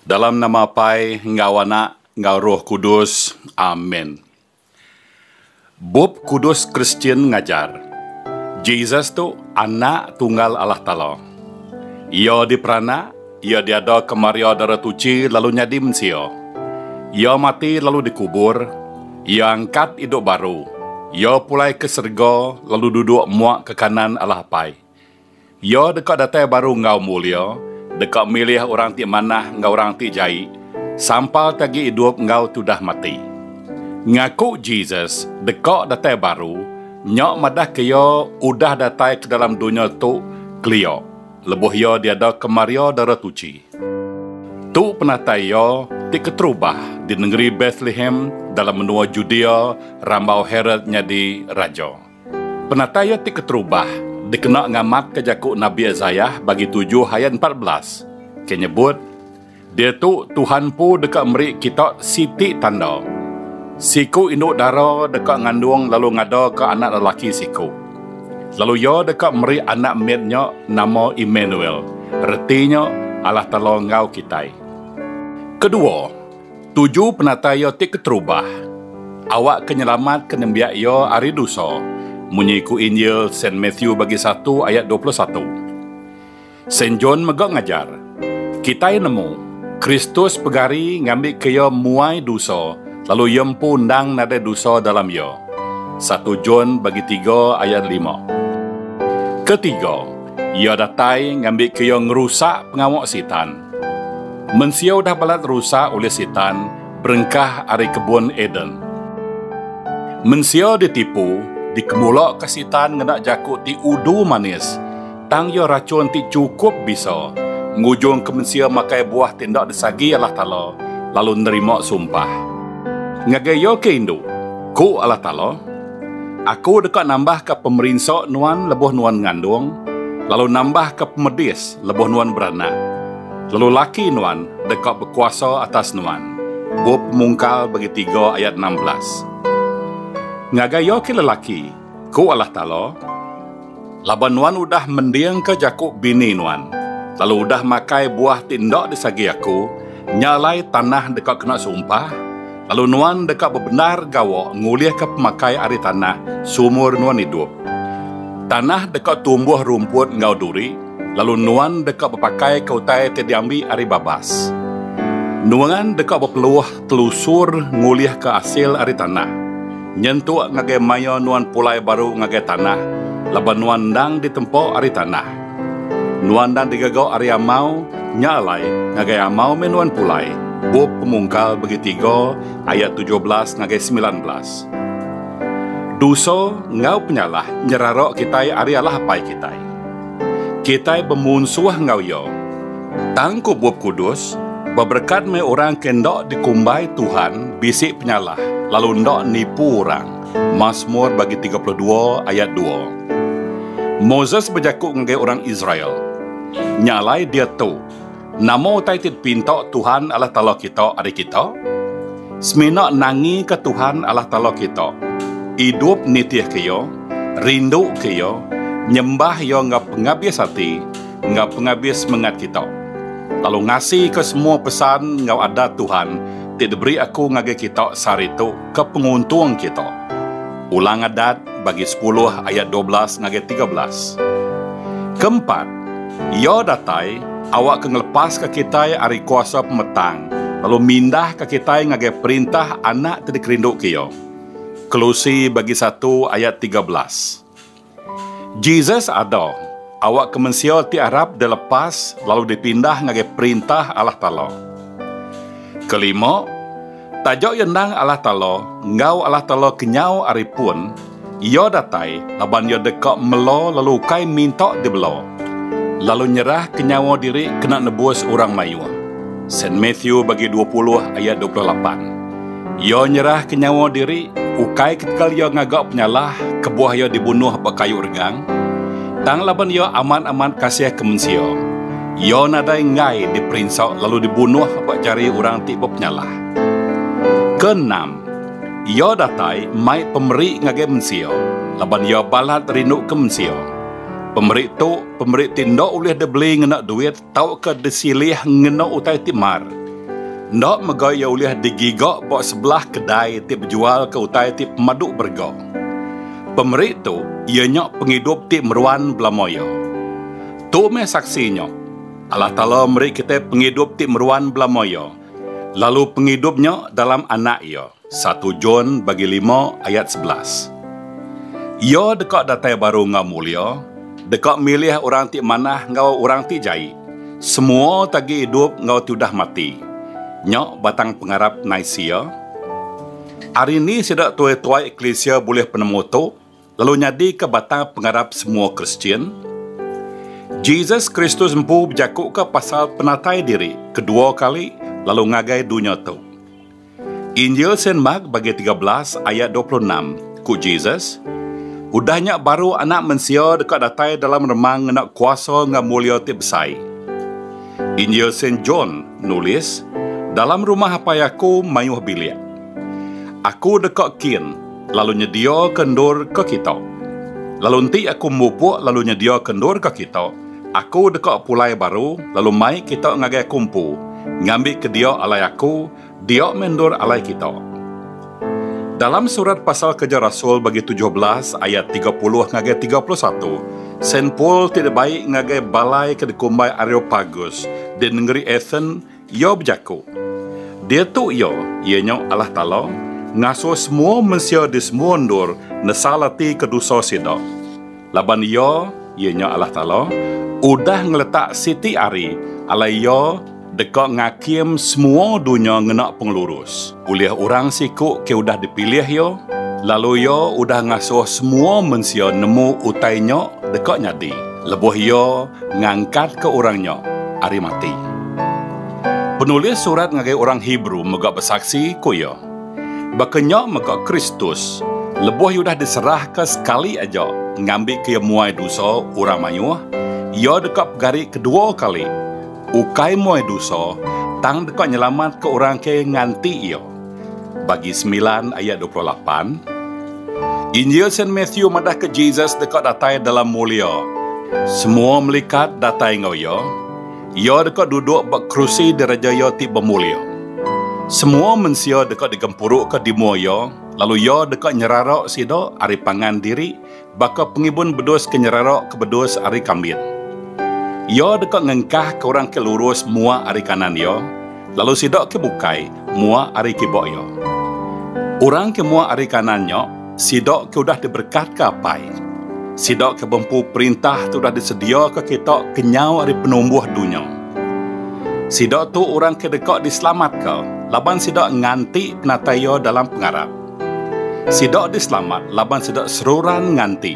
Dalam nama Apai enggau Anak enggau Roh Kudus. Amen. Bup Kudus Kristian ngajar, Jesus tu Anak Tunggal Allah Taala. Iya diperanak, iya diada ke Maria Dara Tuchi lalu nyadi mensia. Iya mati lalu dikubur, iya angkat idup baru, iya pulai ke serega lalu duduk muak ke kanan Allah Apai. Iya deka datai baru enggau mulia, deka milih orang ti manah enggau orang ti jai, sampal ti agi idup enggau tudah mati. Ngaku Jesus deka datai baru nya madahka iya udah datai ke dalam dunya tu kelia lebuh iya diada ke Maria Dara Tuchi. Tu penatai iya ti keterubah di nengeri Bethlehem dalam menua Judea rambau Herod nyadi raja. Penatai iya ti keterubah dikena ngamatka jaku Nabi Isaiah bagi tujuh ayat empat belas, ke nyebut, Diatu Tuhan empu deka meri kita siti tanda. Siku indu dara deka ngandung lalu ngadaka anak lelaki siku. Lalu iya deka meri anak mit nya nama Immanuel, reti nya, Allah Taala enggau kitai. Kedua, Tuju penatai iya ti keterubah, awakka nyelamatka nembiak iya ari dusa, munyi ku Injil Saint Matthew bagi satu ayat dua puluh satu. Saint John mega ngajar, Kitai nemu, Kristus pegari ngambika iya muai dusa lalu iya empu endang nadai dusa dalam iya, satu John bagi tiga ayat lima. Ketiga, iya datai ngambika iya ngerusak pengawa Sitan. Mensia udah balat rusak ulih Sitan berengkah ari kebun Eden. Mensia ditipu, dikemulaka Sitan ngena jaku ti udu manis, tang iya rachun ti chukup bisa ngujungka mensia makai buah ti enda disagi Allah Taala lalu nerima sumpah. Ngagai iya ke indu, ku Allah Taala. Aku deka nambahka pemerinsa nuan lebuh nuan ngandung, lalu nambahka pemedis lebuh nuan beranak. Lalu laki nuan deka bekuasa atas nuan. Bup Pemungkal bagi tiga ayat enam belas. Ngagai iya ke lelaki, ku Allah Taala. Laban nuan udah mendingka jaku bini nuan, lalu udah makai buah ti enda disagi Aku, nya alai tanah deka kena sumpah, lalu nuan deka bebendar gawa ngulihka pemakai ari tanah seumur nuan idup. Tanah deka tumbuh rumput enggau duri, lalu nuan deka bepakaika utai ti diambi ari babas. Nuan deka bepeluh Telusur ngulihka asil ari tanah. Nyentuk ngagai mayuh nuan pulai baru ngagai tanah laban nuan endang ditempa ari tanah. Nuan endang digaga ari amau, nya alai ngagai amau meh nuan pulai, Bup Pemungkal Begi Tiga ayat tujuh belas ngagai semilan belas. Dosa enggau penyalah nyerara kitai ari alah apai kitai. Kitai bemunsuh enggau iya. Tang ku Bup Kudus, beberekat meh orang ke enda dikumbai Tuhan bisi penyalah lalu enda nipu orang, Masmur bagi tiga puluh dua ayat dua. Moses bejaku ngagai orang Israel, Nya alai diatu, Nama utai ti dipinta Tuhan Allah Taala kita ari kita? Semina nangika Tuhan Allah Taala kita, idup nitihka Iya, rinduka Iya, nyembah Iya enggau pengabis ati enggau pengabis semengat kita, lalu ngasika semua pesan enggau adat Tuhan ti diberi aku ngagai kita sehari tu. Ke penguntung kita. Ulang Adat bagi sepuluh ayat dua belas ngagai tiga belas. Keempat, Iya datai awakka ngelepaska kitai ari kuasa pemetang lalu mindahka kitai ngagai perintah Anak ti dikerinduka Iya. Kelusi bagi satu ayat tiga belas. Jesus ada awakka mensia ti arap dilepas lalu dipindah ngagai Perintah Allah Taala. Kelima, taja iya endang Allah Taala enggau Allah Taala kenyau ari pun, iya datai laban iya deka mela lalu ukai minta dibela, lalu nyerahka nyawa diri kena nebus orang mayuh. Saint Matthew bagi dua puluh ayat dua puluh lapan. Iya nyerahka nyawa diri ukai ketegal iya ngaga penyalah kebuah iya dibunuh ba kayu regang, tang laban iya amat-amat kasihka mensia, iya nadai enggai diperinsa lalu dibunuh ba jari orang ti bepenyalah. Keenam, iya datai mai pemeri ngagai mensia laban iya balat rinduka mensia. Pemeri tu pemeri ti enda ulih dibeli ngena duit, Tauka disilih ngena utai ti mar. Enda mega iya ulih digiga ba sebelah kedai ti bejualka utai ti pemadu berega. Pemeri tu iya nya pengidup ti meruan belama iya. Tu meh saksi nya, Allah Taala meri kitai pengidup ti meruan belama iya, lalu pengidup nya dalam Anak Iya. Satu John bagi lima ayat sebelas. Iya deka datai baru enggau mulia, deka milih orang ti manah enggau orang ti jai, semua ti agi idup enggau ti udah mati. Nya batang pengarap Nicaea. Ari ni sida tuai-tuai eklisia bulih penemu tu? lalu nyadika batang pengarap semua Kristian? Jesus Kristus empu bejakuka pasal penatai diri kedua kali lalu ngagai dunya tu. Injil Saint Mark bagi tiga belas ayat dua puluh enam, ku Jesus, Udah nya baru Anak Mensia deka datai dalam remang ngena kuasa enggau mulia ti besai. Injil Saint John nulis, Dalam rumah Apai aku mayuh bilik. Aku deka kin lalu nyediaka endur ke kita. Lalu enti aku mupuk lalu nyediaka endur ke kita, aku deka pulai baru lalu mai kita ngagai aku empu, ngambika dia alai aku, dia meh endur alai kita. Dalam surat pasal Kereja Rasul bagi tujuh belas ayat tiga puluh ngagai tiga puluh satu, Saint Paul ti dibai ngagai balai ke dikumbai Areopagus di nengeri Athen, Iya bejaku, Diatu Iya, iya nya Allah Taala, ngasuh semua mensia di semua endur nesal ati ke dosa sida. Laban Iya, iya nya Allah Taala, udah ngeletak siti ari alai Iya deka ngakim semua dunya ngena pengelurus. Ulih orang siku ke udah dipilih Iya, lalu Iya udah ngasuh semua mensia nemu utai nya deka nyadi lebuh Iya ngangkatka orang nya ari mati. Penulis surat ngagai orang Hebrew mega besaksi, ku iya, Baka nya mega Kristus, lebuh Iya udah diserahka sekali aja ngambika Iya muai dosa orang mayuh, Iya deka pegari kedua kali, Ukai muai dusa, tang deka nyelamatka orang ke nganti iya. Bagi semilan ayat dua puluh lapan. Injil Saint Matthew madahka Jesus deka datai dalam mulia. Semua melikat datai enggau iya. Iya deka duduk ba kerusi diraja iya ti bemulia. Semua mensia deka digempuruka di mua iya, lalu iya deka nyerara sida ari pangan diri Baka pengibun bedus ke nyerarok ke bedus ari kambit. Iya deka ngengkah ke orang ke lurus mua ari kanan iya, lalu sida ke bukai mua ari kiba iya. Orang ke mua ari kanan nya sida ke udah diberekatka Apai. Sida ke bempu perintah ti udah disediaka kita kenyau ari penumbuh dunya. Sida tu orang ke deka diselamatka laban sida nganti penatai iya dalam pengarap. Sida diselamat laban sida seruran nganti.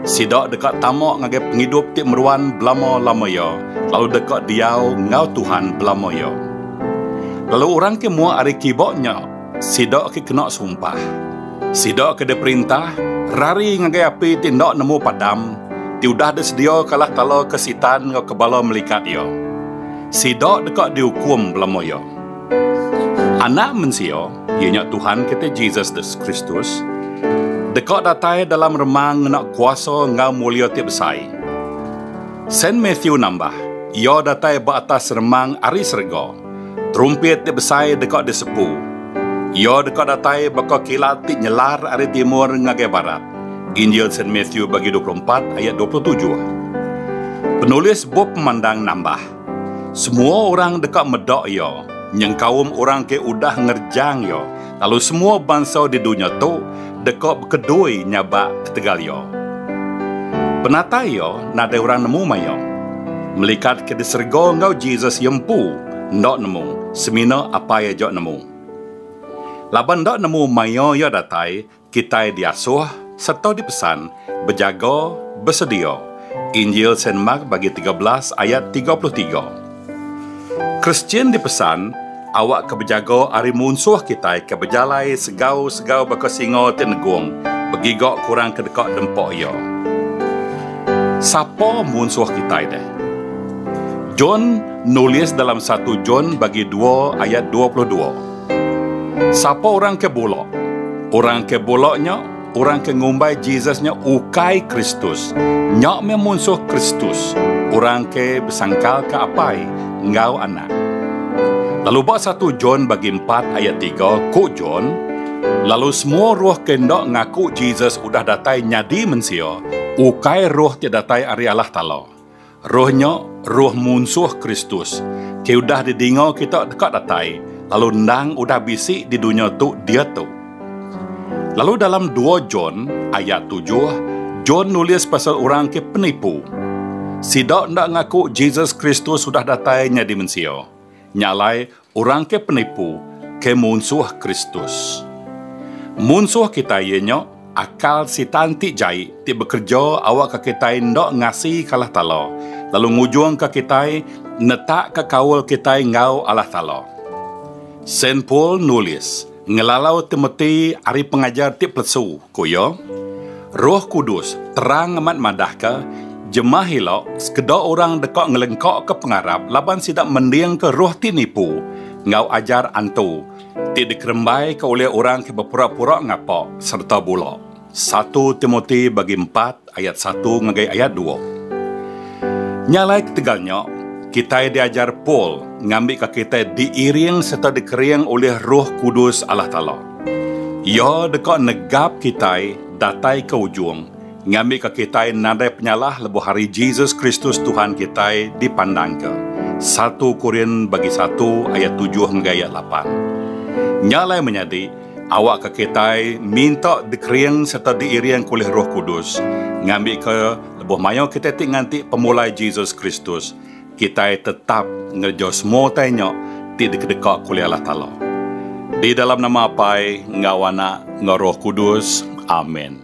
Sida deka tama ngagai pengidup ti meruan belama-lama iya lalu deka diau enggau Tuhan belama iya. Lalu orang ke muak ari kiba nya, sida ke kena sumpah. Sida ke diperintah, rari ngagai api ti enda nemu padam, ti udah disediaka alah kala ke Sitan enggau ke bala melikat iya. Sida deka diukum belama iya. Anak Mensia. Iya nya Tuhan kita Jesus the Kristus deka datai dalam remang ngena kuasa enggau mulia ti besai. Saint Matthew nambah, Iya datai ba atas remang ari serega. Terumpit ti besai deka disepu. Iya deka datai baka kilat ti nyelar ari timur ngagai barat. Injil Saint Matthew bagi dua puluh empat ayat dua puluh tujuh. Penulis bup pemandang nambah, Semua orang deka meda iya, nyengkaum orang ke udah ngerejang iya, lalu semua bansa di dunya tu deka bekedui nyabak ketegal iya. Penatai iya nadai orang nemu maya. Melikat ke di serega enggau Jesus iya empu enda nemu semina Apai aja nemu. Laban enda nemu maya iya datai, Kitai diasuh sereta dipesan bejaga besedia, Injil Saint Mark bagi tiga belas ayat tiga puluh tiga. Kristian dipesan awakka bejaga ari munsuh kitai ke bejalai segau-segau baka singa ti negung begiga kurang ke deka dempa iya. Sapa munsuh kitai deh? John nulis dalam satu John bagi dua ayat dua puluh dua. Sapa orang ke bula? Orang ke bula nya orang ke ngumbai Jesus nya ukai Kristus. Nya meh munsuh Kristus, orang ke besangkalka Apai enggau Anak. Lalu ba satu John bagi empat ayat tiga, ku John, Lalu semua roh ke enda ngaku Jesus udah datai nyadi mensia, ukai roh ti datai ari Allah Taala. Roh nya, roh munsuh Kristus, ti udah didinga kita deka datai, lalu endang udah bisi di dunya tu diatu. Lalu dalam dua John, ayat tujuh, John nulis pasal orang ke penipu. Sida enda ngaku Jesus Kristus udah datai nyadi mensia. Nya alai, Orang ke penipu ke munsuh Kristus. Munsuh kitai iya nya akal Sitan ti jai ti bekereja awakka kitai enda ngasi ke Allah Taala lalu ngujungka kitai netakka kaul kitai enggau Allah Taala. Saint Paul nulis, Ngelalau Timoti ari pengajar ti pelesu, ku iya, Roh Kudus terang amat madahka jemah ila sekeda orang deka ngelengkaka pengarap laban sida mendingka roh ti nipu enggau ajar antu ti dikerembaika ulih orang ke bepura-pura ngapa sereta bula. Satu Timoti bagi empat ayat satu ngagai ayat dua. Nya alai ketegal nya, kitai diajar Paul ngambika kitai diiring sereta dikering ulih Roh Kudus Allah Taala. Iya deka negap kitai datai ke ujung ngambika kitai nadai penyalah lebuh hari Jesus Kristus Tuhan kitai dipandangka, Satu Korin bagi satu ayat tujuh ngagai ayat lapan. Nya alai menyadi, Awakka kitai minta dikering sereta diiring ulih Roh Kudus. Ngambika lebuh mayuh kitai ti nganti pemulai Jesus Kristus, kitai tetap ngereja semua utai nya ti dikedeka ulih Allah Taala. Di dalam nama Apai enggau Anak enggau Roh Kudus. Amen.